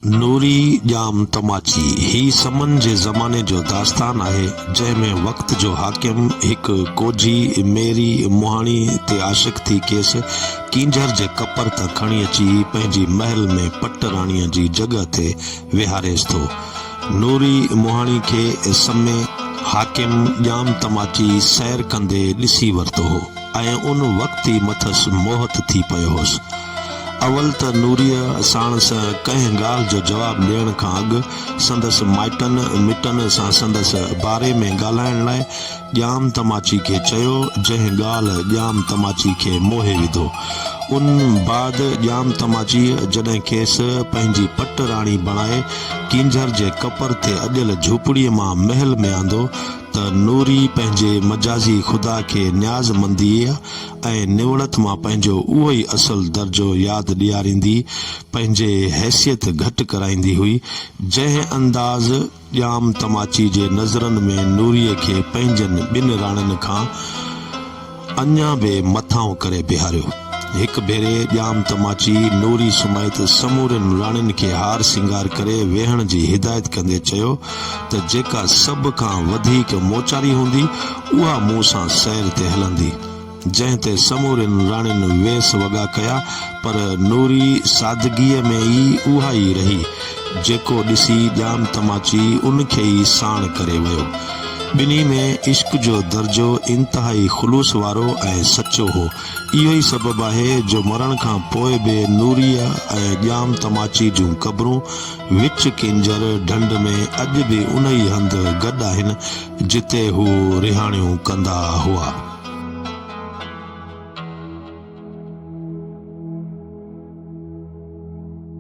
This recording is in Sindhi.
نوري ڄام تماچي، هي سمن جي زماني جو داستان آهي، جنهن ۾ وقت جو حاڪم هڪ ڪوجهي ميري مهاڻي تي عاشق ٿي کيس ڪينجهر جي ڪپر تان کڻي اچي پنهنجي محل ۾ پٽ راڻيء جي جڳهه تي ويهاريس ٿو. نوري مهاڻي کي سمي حاڪم ڄام تماچي سير ڪندي ڏسي ورتو هو. ۽ ان وقت ئي مٿس موهت ٿي پيو هوس. اول ته نوريء ساڻس ڪنهن ڳالهه جو جواب ڏيڻ کان اڳ سندس مائٽن مٽن سان سندس باري ۾ ڳالهائڻ لاء ڄام تماچي کي چيو، جنهن ڳالهه ڄام تماچي کي موهي وڌو. ان بعد ڄام تماچيء جڏهن کيس پنهنجي پٽ راڻي بڻائي ڪينجهر جي ڪپر تي اڏيل جهوپڙيء مان محل ۾ آندو ته نوري پنهنجي مجازي خدا کي نياز منديء ۽ نوڙت مان پنهنجو اهو ئي اصل درجو ياد ڏياريندي پنهنجي حيثيت گهٽ ڪرائيندي هئي، جنهن انداز ڄام تماچي جي نظرن ۾ نوريء کي پنهنجن ٻن راڻين کان. اڃا به مٿانهون ڪري بيهاريو. هڪ ڀيري ڄام تماچي نوري سميت سمورين راڻين کي هار سينگار ڪري ويهڻ جي هدايت ڪندي چيو ته جيڪا سڀ کان وڌيڪ موچاري هوندي اها مون سان سير تي هلندي. جنهن تي سمورين راڻين ويس وڳا ڪيا پر نوري سادگيء ۾ ئي اها ئي رهي. جيڪو ڏسي ڄام تماچي ان کي ئي ساڻ ڪري ويو. ٻنهي ۾ عشق جو درجو انتهائي خلوص وارو ۽ سچو هو. اهو ئي سبب آهي جو مرڻ کان پوء به نوريء ۽ ڄام تماچي جون قبرون وچ ڪينجهر ڍنڍ ۾ اڄ به انهي هنڌ گڏ آهن جتي هو رهاڻيون ڪندا هئا.